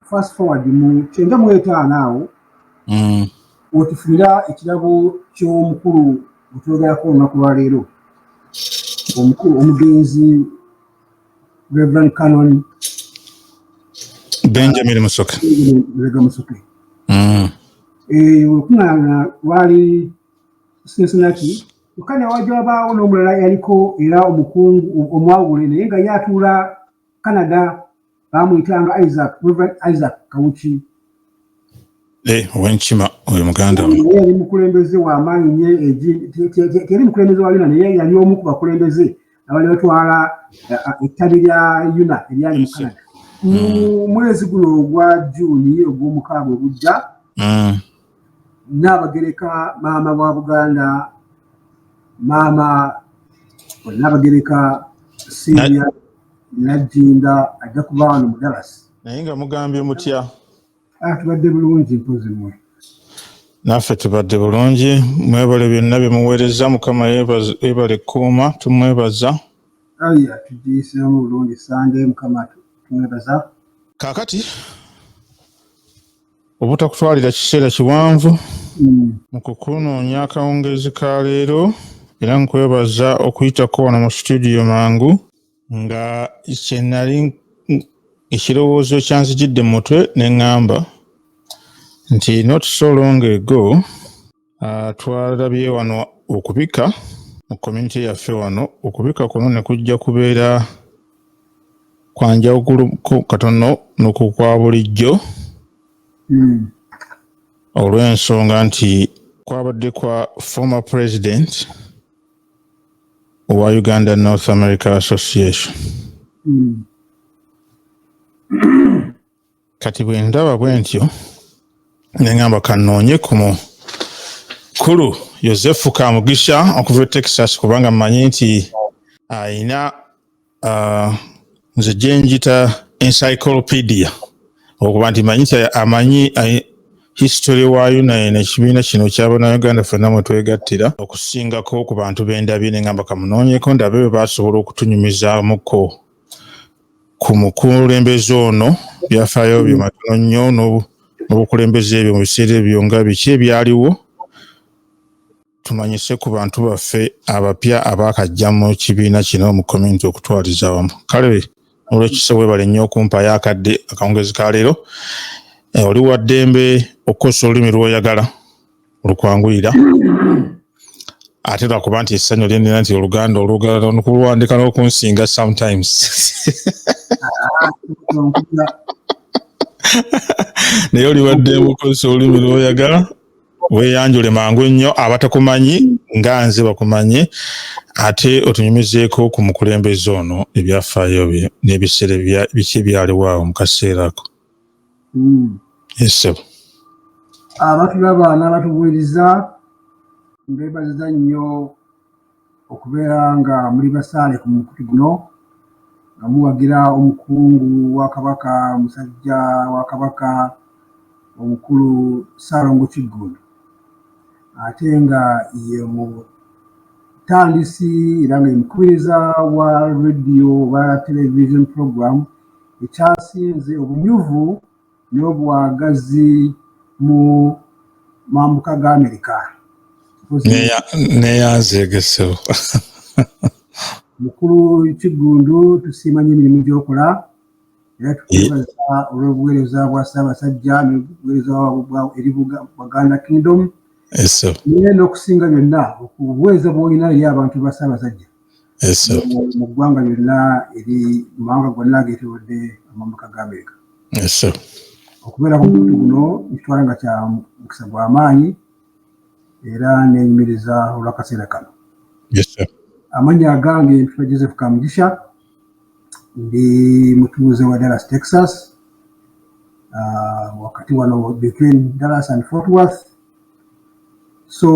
fast forward mu kyenda mu etaano awo mm. wetufunira ekirabo ky'omukulu gwetulogerako olunaku lwaleero omukulu omugenzi reverend canon benjamin musoke rega musoke mm. eh, wekunaana lwali cincinnati kyokka newaja wabaawo n'omulala yaliko era omukungu omwawule naye nga ye atuula canada baamuyitanga isaac reverend isaac kawuki eh, owenkima oyo muganda yali mukulembeze wamaanyi nye teyali mukulembeze wa yuna naye yali omu ku bakulembeze abali batwala eh, eh, ettabi lya yuna eryali mu canada mu hmm. mwezi guno ogwa juuni ogw'omukaaga ogujja hmm. naabagereka maama wa buganda maama naabagereka siria najjinda ajja kuba wano mu dallas naye nga mugambye mutya ah, tubadde bulungi mpozi mwe naffe tubadde bulungi mwebale byonna byemuweereza mukama yebale kuuma tumwebaza aya tugiyisemu bulungi sande mukama tumwebaza kakati obutakutwalira kiseera kiwanvu mm. mu kukunoonya akawungeezi ka leero era nkwebaza okuyitako wano mu situdiyo mangu nga kyenali ekirowoozo kyanzijidde mu mutwe ne ŋŋamba nti not so long ago Uh, twalabye wano okubika mu community yaffe wano okubika kuno ne kujja kubeera kwa njawulo katono nokukwa bulijjo mm. olw'ensonga nti kwabadde kwa former president owa uganda north america association mm. kati bwe ndaba bwe ntyo ne ŋŋamba kannoonye ku mukulu yosefu kamugisha okuva e texas kubanga mmanyi nti alina uh, nze gye njita encyclopedia okuba nti manyi amanyi history waayo naye nekibiina kino kyabanauganda fenna mwe twegattira okusingako ku bantu bendabye ne ŋŋamba kamunoonyeko ndabe bwe basobola okutunyumizaamuko ku mukulembeze ono byafaayo bye matono nnyo n'obukulembeze ebyo mu biseera ebyo nga biki ebyaliwo tumanyise ku bantu baffe abapya abaakajja mu kibiina kino mu community okutwaliza wamu kale olwekise webale nnyo okumpayo akadde akawungezi ka leero eh, oli wa ddembe okukozesa olulimi lwoyagala lukwanguyira ate lwakuba nti essanyu lyenina nti oluganda olugala nkulwandika n'okunsinga sometimes naye oliwadde mukozesa olulimi lwoyagala weyanjule mangu nnyo abatakumanyi nga nze bakumanye ate otunyumizeeko ku mukulembeze ono ebyafaayo bye n'ebiseera biki ebyaliwo awo mu kaseera ako Hmm. esebo abatulaba n'abatubuuliza mbeebaziza nnyo okubeera nga muli basaale ku mukutu guno nga muwagira omukungu wa kabaka musajja wa kabaka omukulu ssaalongo kiggundu ate nga ye mutandisi era nga yemukubiriza wa radio oba television program ekyasinze obunyuvu n'obwagazi mu mambuka ga Amerika. Neyanzeegesewo. Mukulu Kiggundu tusiima nnyo emirimu gy'okola era tukwebaza olw'obuweereza bwa Ssaabasajja n'obuweereza bwa eri Buganda Kingdom. Naye n'okusinga byonna obuweereza bw'olina eri abantu ba Ssaabasajja. mu ggwanga lyonna eri mawanga gonna ageetorodde amambuka ga amerika okubeera ku mukutu guno nkitwala nga kya mukisa gwa maanyi era nenyumiriza olwakaseera kano amannya agange mpitwa joseph kamugisha ndi mutuuze wa dallas texas uh, wakati wano between dallas and fort worth so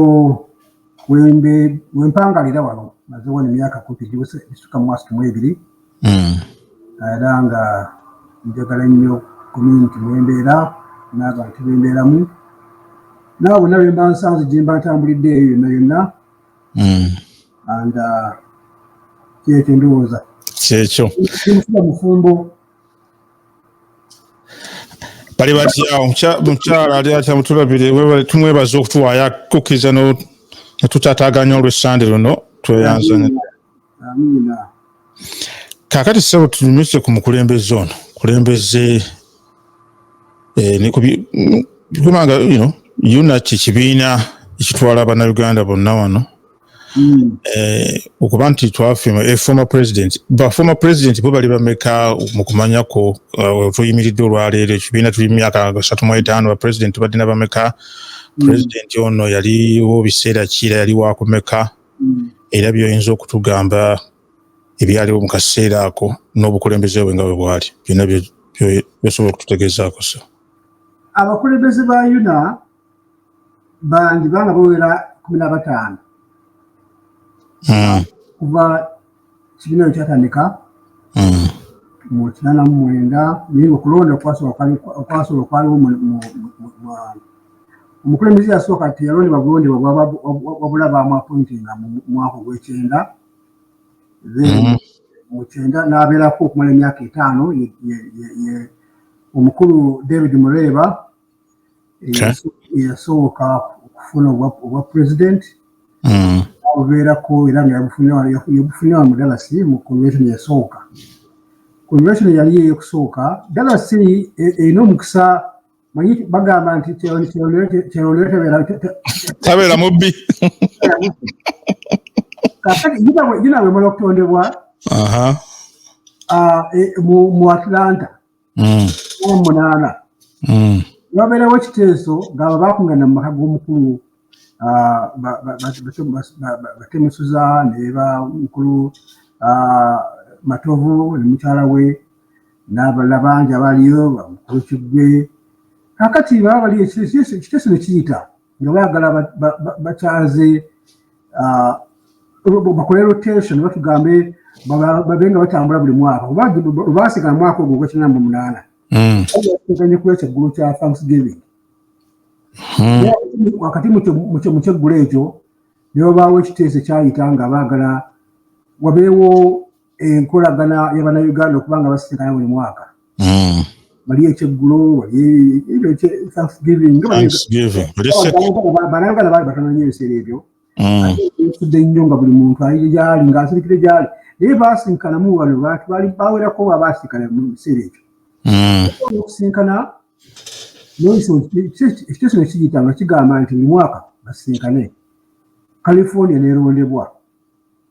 wempangalira wano maze wano emyaka kumpi gisuka mu mwasatu mu ebiri hmm. era nga njagala nnyo community mwembeera n'abantu bembeeramu naawe bonna bemba nsanze gyemba ntambulidde eyo yonna yonna hmm. and uh, kyekyo ndowooza kyekyo mufumbo bali batya omukyala ali atya mutulabire tumwebaza okutuwaayo akukkiriza netutataganya olwessande luno tweyanzane kakati sebo tunyumikire ku mukulembeze ono kulembeze eh, nekubanga unaki kibiina ekitwala bannayuganda bonna wano Mm. Eh, okuba nti twafima eh, former president ba former president bo bali bameka mu kumanyako uh, tuyimiridde olwaleero ekibiina tuli myaka asatu mu etaano ba president tubadde na bameka mm. president ono yaliwo biseera kiira yali wakumeka mm. era byoyinza okutugamba ebyaliwo mu kaseera ako n'obukulembeze bwe nga bwe bwali byonna byosobola okututegeezaako so abakulembeze ba yuna bandi banga bawera kumi na bataano hmm. kuva kibiina yo kyatandika hmm. mu kinaana mu mwenda naye okulonda okwasobola okwaliwo omukulembeze yasooka teyalondebwa bulondebwa wabula bamwapointinga mu mwaka ogwekyenda then hmm. mu kyenda n'abeerako okumala emyaka etaano omukulu david mureeba eyasooka okufuna obwa pulezidenti mm. abubeerako era nga yabufunira mu dalasi mu convention yasooka convention yali eyokusooka dalasi e, erina omukisa manyi bagamba nti tabeera mubbi ginawe mala okutondebwa ah, e, mu atlanta mm. omunaana mm. wabeerawo ekiteeso ngaabo bakungana mu maka g'omukulu ah, batemusuza neba mukulu ah, matovu ne mukyala we n'abalala bangi abaliyo mukulu kiggwe kakati baba bali ekiteeso ne kiyita nga baagala bakyaze ah, bakole rotation batugambe babe nga batambula buli mwaka olwasigala mwaka ogwo gwekina mu munaana hmm. teganye kuba ekyeggulu kya thanksgiving hmm. wakati mukyeggulo ekyo nebabaawo ekiteeso ekyayita nga baagala wabeewo enkolagana yabanayuganda okuba nga basitikana buli mwaka hmm. wali ekyeggulo walibanayuganda bali batono nyo ebiseera ebyo hmm. nsudde nnyo nga buli muntu ayi gyali nga asirikire gyali naye basinkanamu wano bantu bali bawerako wa basinkana mu biseera ekyo hmm. okusinkana ekyo kino kiyita nga kigamba nti buli mwaka basinkane california nerondebwa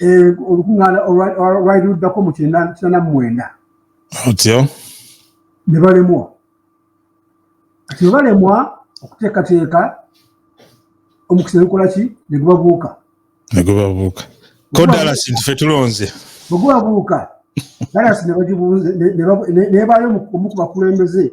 eh, olukuŋŋaana olwali luddako mu kinana mu mwenda otyo ne balemwa kati balemwa okuteekateeka omukisa negukola ki ne gubabuuka ne gubabuuka ko dalasi nti fe tulonze bwe gubabuuka dalasi ne bagibuuza nebaayo omu ku bakulembeze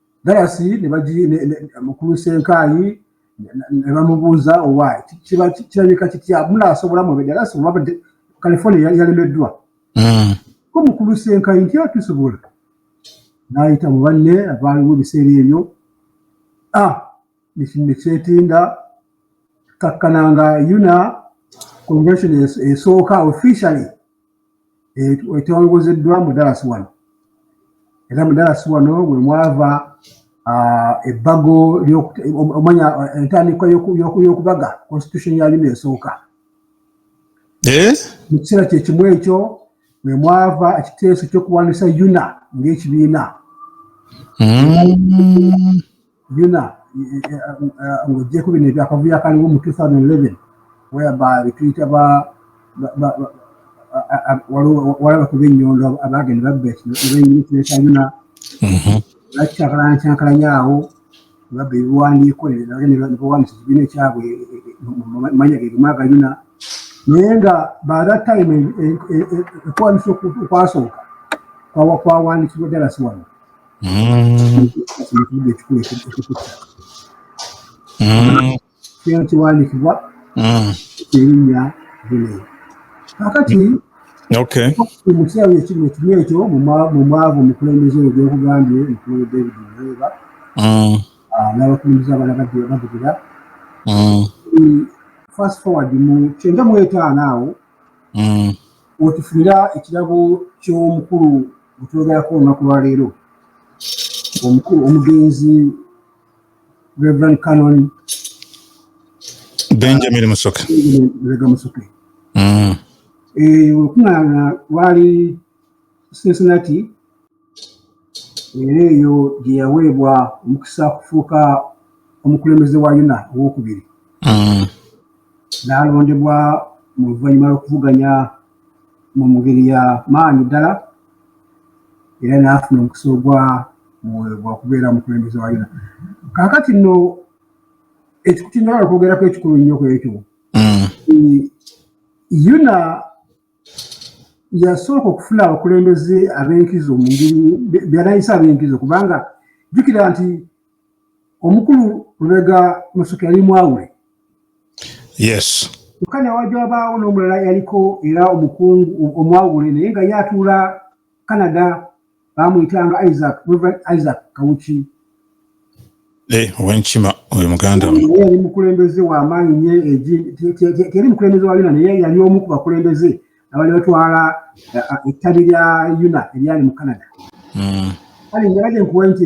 galasi mukulu senkaayi ne bamubuuza owa kiba kirabika kitya munaasobola mube galasi oba california yalemeddwa hmm. ko mukulu senkaayi nti atusobola n'ayita mu banne abaaliwo ebiseera ebyo a ah, ne kyetinda kakkananga yuna convention esooka officially etongozeddwa mu Dallas wano era mu Dallas wano bwe mwava ebbago omanya entandikwa y'okubaga constitution ya yuna esooka eh? mu kiseera kyekimu ekyo bwe mwava ekiteeso ky'okuwandisa yuna ng'ekibiina mm. byona ng'ogyeko bino ebyakavuyo akaliwo mu 2011 weba betuyita walaba kuba ennyondo abagenda babba ekinekinesa yona bakyankalankyankalanya awo babba ebiwandiiko nebawandisa ekibiina ekyabwe mumanya gegumu agayuna naye nga by that time ekwandisa okwasooka kwawandikibwa dalasi wano kino kiwandikibwa erinnya bino kakati mu kirabo ekimu ekimu ekyo mu mwavu omukulembeze oyo gyokugambye mukulu david nreba n'abakulembeze abala bavugira fast forward mu kyenda mu etaano awo otufunira ekirabo ky'omukulu gutwogerako olunaku lwaleero omukulu omugenzi reverend canon benjamin musoke rega musoke mm. eh, olukuŋŋaana lwali cincinnati era eyo gye yaweebwa omukisa kufuuka omukulembeze wa yuna owokubiri mm. n'alondebwa mu luvannyuma lw'okuvuganya mu ngeri ya maanyi ddala era n'afuna omukisa ogwa mwoyo gwa kubeera mukulembeze wa yona kakati nno ekikutinjagala okwogerako ekikulu nnyo ku ekyo mm. yona yasooka okufuna abakulembeze ab'enkizo mu ngeri byanayisa ab'enkizo kubanga jjukira nti omukulu lubega musuka yali mwawule yes kyokka newajja wabaawo n'omulala yaliko era omukungu omwawule naye nga ye atuula canada bamuyitanga isaac reverend isaac kawuki eh, owenkima oyo muganda yali mukulembeze wamaanyi nyo teri mukulembeze wa yona naye yali omu ku bakulembeze abali batwala ettabi lya yuna eryali mu canada hmm. kale ngerage nkuwa nti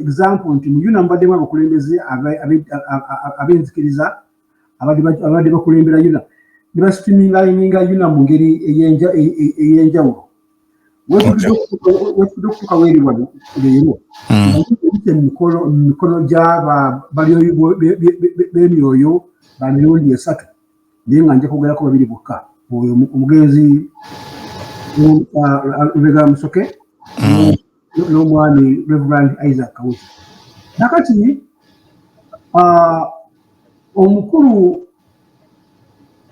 example nti mu yuna mubaddemu abakulembeze ab'enzikiriza abadde bakulembera yuna ne basitimingayininga yuna mu ngeri ey'enjawulo wekitude okutuuka weri wano leero ebite mu mikono gy'aba bemyoyo ba mirundi esatu naye nga nja kwogerako babiri bokka oyo omugenzi lubega musoke mm. n'omwami reverand isaac kawuzi nakati ah, omukulu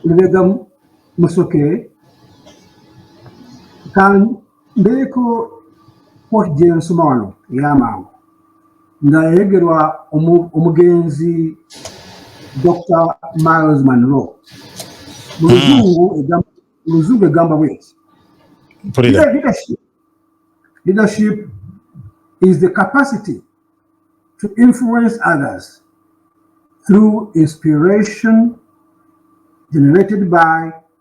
lubega musoke mbeeko kooti gyensoma wano eyamangu nga yayogerwa omugenzi dr miles manro muluzungu hmm. egamba bweti leadership is the capacity to influence others through inspiration generated by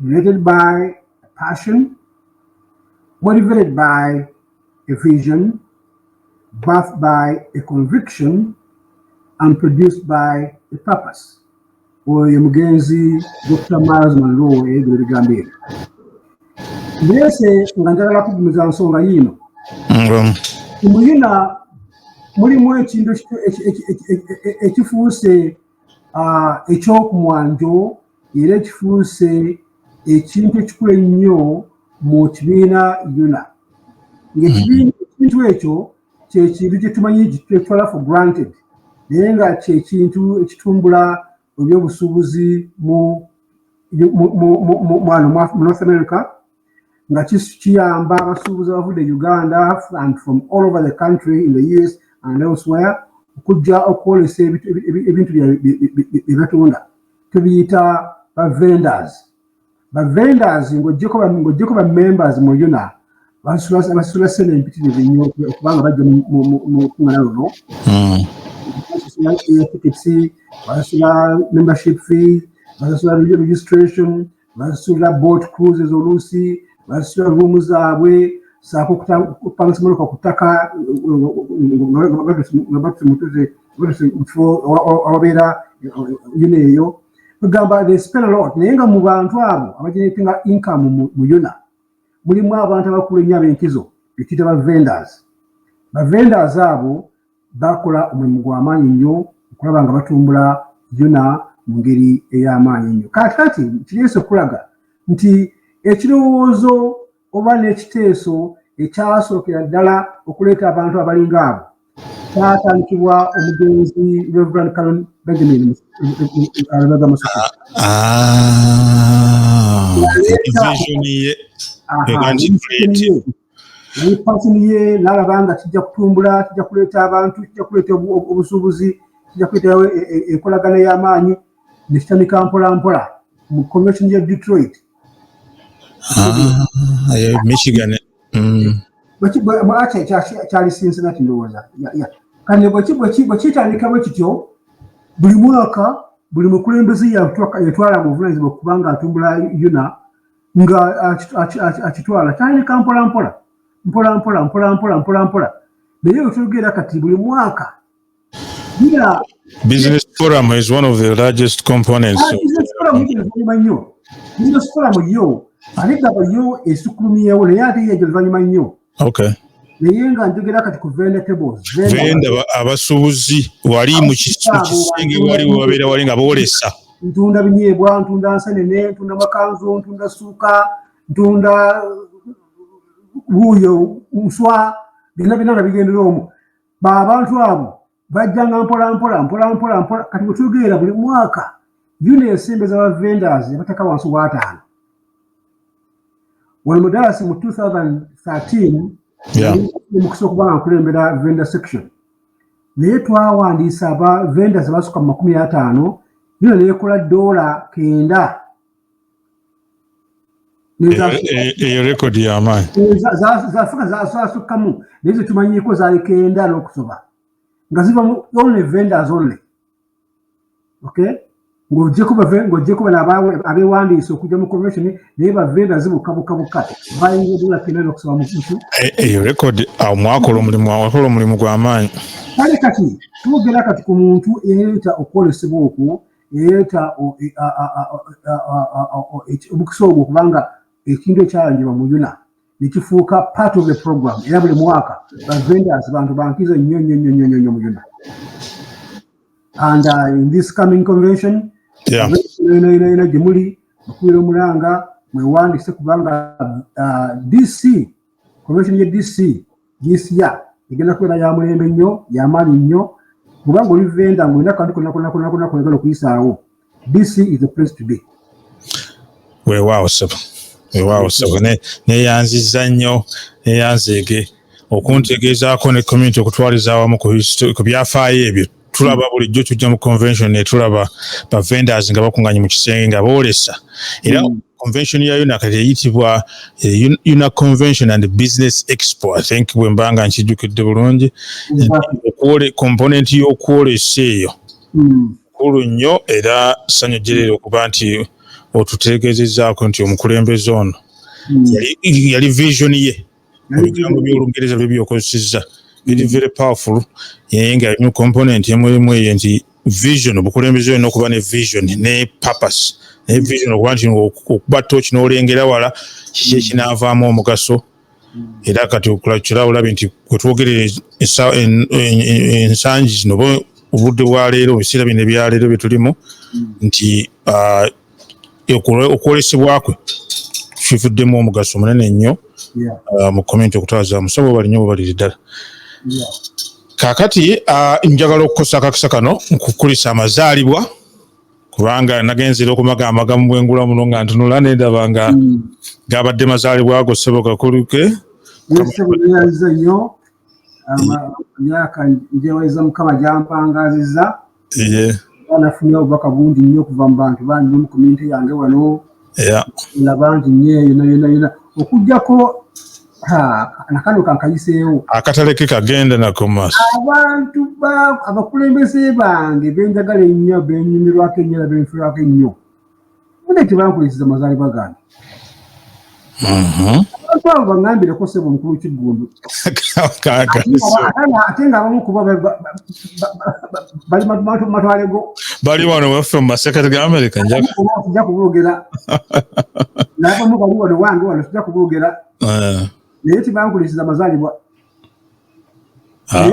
Related by a passion, motivated by a vision, birthed by a conviction, and produced by a purpose. Oyo mugenzi Dr. Miles Monroe ebyo ebigambo ebyo. Mbese nga njagala kugumiza nsonga yiino. Muyina mulimu ekintu ekifuuse ekyokumwanjo era ekifuuse ekintu ekikulu ennyo mu kibiina yona ngaekibiina mm-hmm. ekintu ekyo kyekintu kyetumanyi kyetwala for granted naye nga kyekintu ekitumbula ebyobusuubuzi mu north america nga kiyamba abasuubuzi abavudde e uganda and from all over the country in the us and elsewhere okujja okwolesa ebintu byebatunda tubiyita bavendors bavendors ng'ojjeko bamembers mu yuna basula sente empitirivu nnyo okubanga bajja mukungana luno basasula hmm. tiketi basasula membership fee basasula registration basasulira boat cruises oluusi basasulira ruumu zaabwe saako okupangisa emmotoka ku ttaka nga batuse mutuze batuse mu kifo awabeera yuna eyo egamba they spend a lot naye nga mu bantu abo abageneratinga income mu yuna mulimu abantu abakulu ennyo ab'enkizo betuyita ba vendors ba vendors abo baakola omulimu gwa maanyi nnyo okulaba nga batumbula Yona mu ngeri ey'amaanyi ennyo. Kaakati kireese okulaga nti ekirowoozo oba n'ekiteeso ekyasookera ddala okuleeta abantu abalinga abo kyatandikibwa omugenzi Reverend Karen Benjamin Alabega Musuku. Ah, ah, naye pasini ye nalaba nga kijja kutumbula kijja kuleeta abantu kijja kuleeta obusuubuzi kijja kuleetawo e, e, enkolagana y'amaanyi nekitandika mpola mpola mu convention ya detroit ah, eh, michigan mm. kyali cincinnati ndowooza kale bwekitandika bwe kityo buli mwaka buli mukulembeze yatwala mu buvunanyizibwa okubanga atumbula yona nga akitwala tandika mpolampola mpolampola mpolampola mpolampola naye okyogera kati buli mwaka bila business forum is one of the largest components ah, business forum nnyo business forum yo ate gaba yo esukulumiyewo naye ate yejo luvanyuma nnyo okay naye nga njogera kati ku vendetables venda abasuubuzi wali mu kisenge wali wabeera wali nga boolesa ntunda binyeebwa ntunda nsenene ntunda makanzu ntunda suuka ntunda wuuyo nswa byonna byonna nga bigendera omu baabantu abo bajjanga mpolampola mpolampola mpola kati bwetugeera buli mwaka yuno ensembeza ba vendors yabateka wansi wataano wano mudalasi mu 2013 mukisa okuba nga nkulembera vendor section naye twawandiisa aba vendors basuka mu makumi ataano yuno neyekola doola kenda eyo rekodi yamaanyi zafuka zasukkamu naye zetumanyiiko zaleka enda n'okusoba nga ziva mu only vendors only okay ng'ogyeko bave ng'ogyeko bano abewandiisa okujja mu convention naye bavenda zibuka buka buka bayinza odola kenda n'okusaba mukutu eh, eyo rekodi awo ah, mwakola omulimu awakola omulimu gw'amaanyi kale kati twogera kati ku muntu eyeeyita okwolesebwa okwo ereeta omukisa ogwo kubanga ekintu ekyalanjirwa mu yuna nekifuuka part of the program era buli mwaka bavenders bantu bankizo nnyo nnyo nnyo nnyo nnyo mu yuna and uh, in this coming convention gyemuli mukubeera omulanga mwewandise kubanga uh, dc Convention ye DC gisiya egenda kubeera ya mulembe nnyo ya maanyi nnyo kubanga oli venda ng'olina kantu konakonakonakona koyagala okuyisaawo DC is the place to be. Weewaawo ssebo weewaawo ssebo neyanzizza nnyo neyanzeege okuntegeezaako ne community okutwaliza awamu ku byafaayo ebyo tulaba bulijjo tujja mu convention netulaba ba vendors nga bakunganye mu kisenge nga boolesa era mm. convention ya UNAC eyitibwa eh, UNAC convention and business expo i think bwe mbanga nkijjukidde bulungi okwole component y'okwolesa eyo mm. kulu nnyo era sanyu jerere okuba nti otutegezezaako nti omukulembeze ono mm. yali vision ye ebigambo by'olungereza bye byokozesezza biri very powerful naye nga mu component emulimu eyo nti vision obukulembeze olina okuba ne vision ne purpose naye vision okuba nti okuba tooki n'olengera wala kiki ekinaavaamu omugaso era kati okulakyira olabe nti kwetwogerera ensangi zino obudde bwa leero ebiseera bino ebyaleero byetulimu nti ah, okwolesebwa kwe kivuddemu omugaso munene nnyo uh, mu komenti okutwaza musabo bali nyo bwebaliri ddala kakati uh, njagala okukosa akakisa kano nkukulisa amazaalibwa kubanga nagenzera okumaga amagamu bwengula muno nga ntunula nendaba nga hmm. gabadde mazaalibwa ago sebo gakuluke emyaka njeweza mukama gyampangazizza nafunye obubaka bungi nnyo okuva mu bantu bangi mu komyunite yange wano na bangi nnyo yona yona yona okujjako nakano kankayiseewo akatale ke kagenda nako maaso abantu abakulembeze bange benjagala ennyo benyumirwako ennyo era benfirwako ennyo mune tebankulisiza mazalibwa gange mhm. abantu abo bangambireko sebo omukulu kiggundu ate nga abamu kuba bali matwale go bali wano waffe mu masekati ga amerika njakija kuboogera nabamu bali wano wange wano sija kuboogera eh. naye tebankulisiza mazalibwa ah.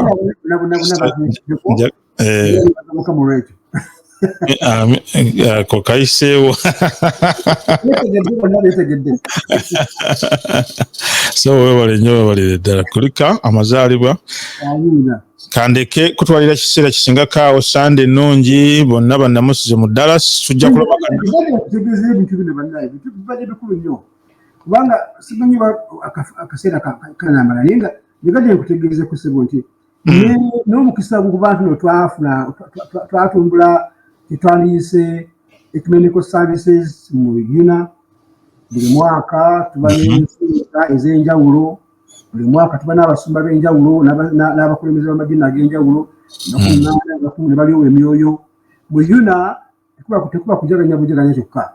eh. ako kayiseewo so webale nyo webalire ddala kulika amazaalibwa kandeke kutwalira kiseera kisinga kaawo sande ennungi bonna bannamusize mu dallas tujja kulabakubanga simanyi akaseera kanamala naye nga nyegadde nkutegeeza kusebo nti mm. n'omukisa gukuba nti no twafuna twatumbula kyetwandiyise ecumenical services mu bibina buli mwaka tuba mm-hmm. n'ensonga ez'enjawulo buli mwaka tuba n'abasumba b'enjawulo n'abakulembeze b'amadiini ag'enjawulo mm. nakunaana abakumu ne balyowa emyoyo mu yuna tekuba kujaganya bujaganya kyokka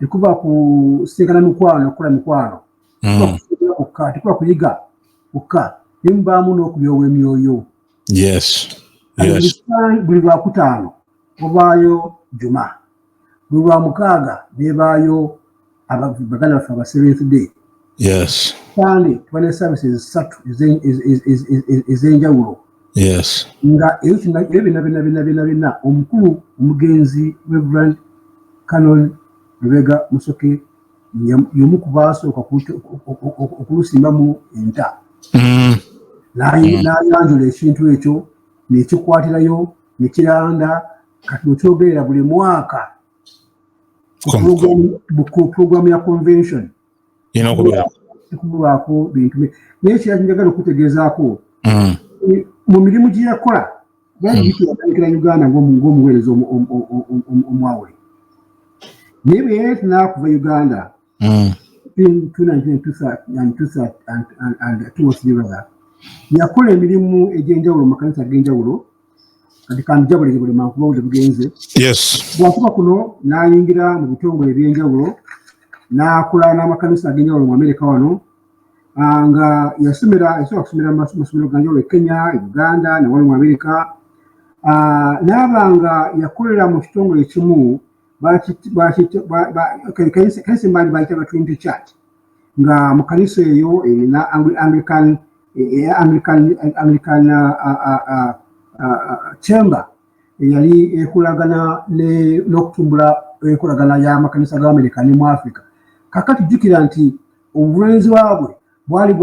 tekuba kusisinkana mikwano okukola mikwano hmm. kukka tekuba kuyiga kukka naye mubaamu n'okulyowa emyoyo buli lwakutaano obaayo juma buli lwamukaaga nebaayo baganda baffe aba seventh day yes sande tuba ne services ssatu ez'enjawulo yes nga ebyo bina bina bina bina bina omukulu omugenzi reverend canon lubega musoke yomu ku baasooka okulusimbamu enta mm. n'ayanjula mm. ekintu ekyo nekikwatirayo nekiranda kati wekyogerera buli mwaka pulogulaamu ya convention erina okubeeratekubulwako bintu naye kiraki njagala okutegeezaako mm. mu mirimu gye yakola yayitandikira mm. uganda ng'omuweereza omwawule naye bwe yayeti n'akuva uganda mm. between 219 and 203 yakola emirimu egy'enjawulo mu makanisa ag'enjawulo kati kanjabule buli mankuba buli bugenze bwakuba kuno n'ayingira mu bitongole eby'enjawulo n'akola n'amakanisa ag'enjawulo mu amerika wano ah, nga yasomera yasobola kusomera masomero ganjawulo e kenya e uganda nawali mu amerika ah, n'aba nga yakolera mu kitongole ekimu kanisa mani bayita batwinto church nga mu kanisa eyo erina anglican anglican anglican chamber eyali ekolagana n'okutumbula enkolagana y'amakanisa ga amerika ne mu africa kakati jjukira nti obuvunaanyizibwa bwe bwali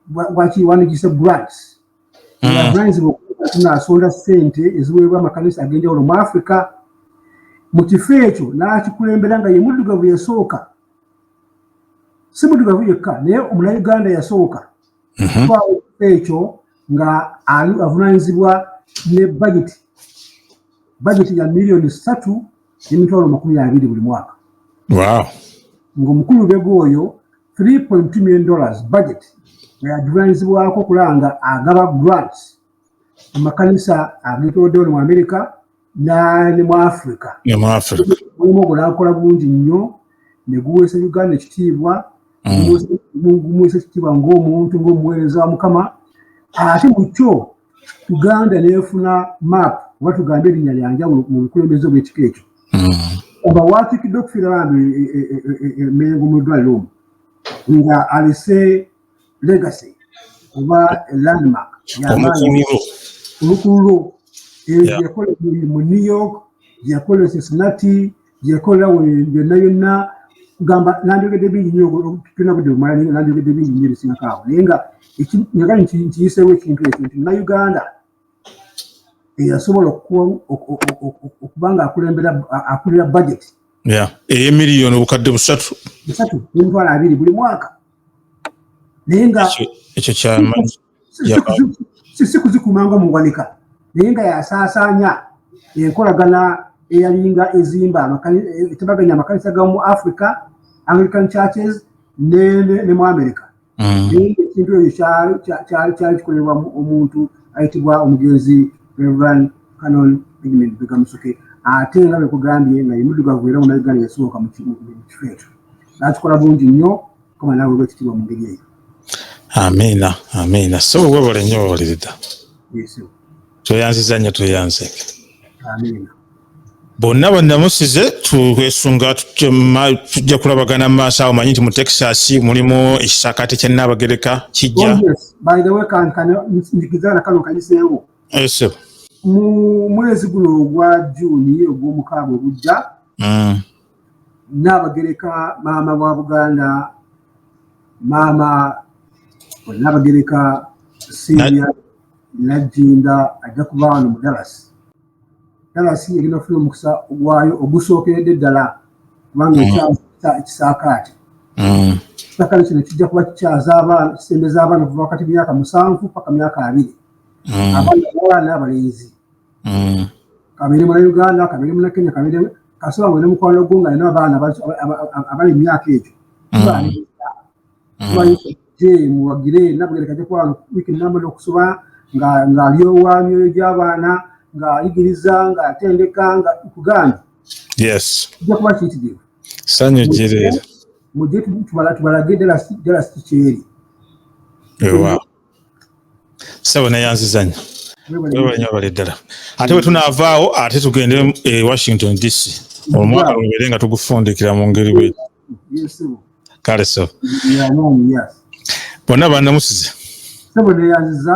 bwakiwandigisa grants abavunanyizibwa mm. okuba tunaasonda ssente eziweebwa amakanisa ag'enjawulo mu afrika mu kifo ekyo n'akikulembera nga ye muddugavu yasooka si muddugavu yekka naye omuna uganda yasooka mhm. twaawo ekifo ekyo nga avunanyizibwa ne bageti bageti ya miliyoni ssatu emitwalo makumi abiri buli mwaka ngaomukulu bega oyo 3.2 million dollars budget nga yagivunanyizibwako okulanga agaba grants mu makanisa agetoodewo ne mu amerika ne mu africa mulimu ogulankola bungi nnyo ne guweesa uganda ekitiibwa mm. gumuweesa ekitiibwa ng'omuntu ng'omuweereza wa mukama ate mu kyo uganda nefuna map oba tugambe erinya lyanjawulo mu bukulembeze obwekika ekyo oba hmm. watikidde okufiira bambi emengo e, e, e, mu ddwaliro omu nga alese legacy oba landmark olukululo eyo gyeyakola mu new york gyeyakola e cincinnati yekola yonna yonna gamba nandyogedde bingi nyo tulina budde bumala naye nandyogedde bingi nyo ebisingako awo naye nga nyaga nkiyiseewo ekintu ekyo nti munauganda eyasobola okuba nga akulira budget eyemiliyoni obukadde busatu busatu nemitwalo abiri buli mwaka naye nga ekyo kyamanyi si kuzikuuma nga muwanika naye nga yasaasaanya enkolagana eyalinga ezimba etabaganya amakanisa gamu africa anglican churches ne mu america mm. naye ekintu ekyo kyali kyali kikolebwa omuntu ayitibwa omugenzi reverend canon edmund begamusoke ate nga bekugambye nga yemuddugavu era munauganda yasooka mu kifo ekyo nakikola bungi nnyo koma nawe gwe kitibwa mu ngeri eyo amiina amiina so webale nnyo wewalirida tweyanziza nnyo tweyanze amiina bonna banamusize twesunga tujja kulabagana mu maaso awo manyi nti mu texas mulimu ekisakate kya naabagereka kijja oh, mu mwezi guno ogwa juuni ogw'omukaaga ogujja mm. Nnaabagereka maama wa Buganda maama Nnaabagereka Sylvia Nagginda ajja kuba wano mu Dallas. Dallas egenda kufuna omukisa ogwayo ogusookeredde ddala kubanga mm. ekyamukisa ekisaakaate. Mm. Ekisaakaate kino kijja kuba kikyaza abaana kisembeza abaana okuva wakati myaka musanvu paka myaka abiri. Mm. Abaana abaana abalenzi. mm. kabere muna uganda kabere muna kenya kabere kasaba wena mukwano gwo nga alina abaana abali emyaka egyo muwagire nabugerekaje kwano wiki namba nokusoba ng'alyowa myoyo gy'abaana ng'ayigiriza ng'atendeka nga kuganda yes ojja kuba kiyitirivu sanyu gireera mujje tubalage ddala sikyeri sebo neyanziza nyo webanyo abale ddala ate bwetunaavaawo ate tugende e washington dc omwaka lubere nga tugufundikira mu ngeri bwe kale so bonna banamusize sebo neyanziza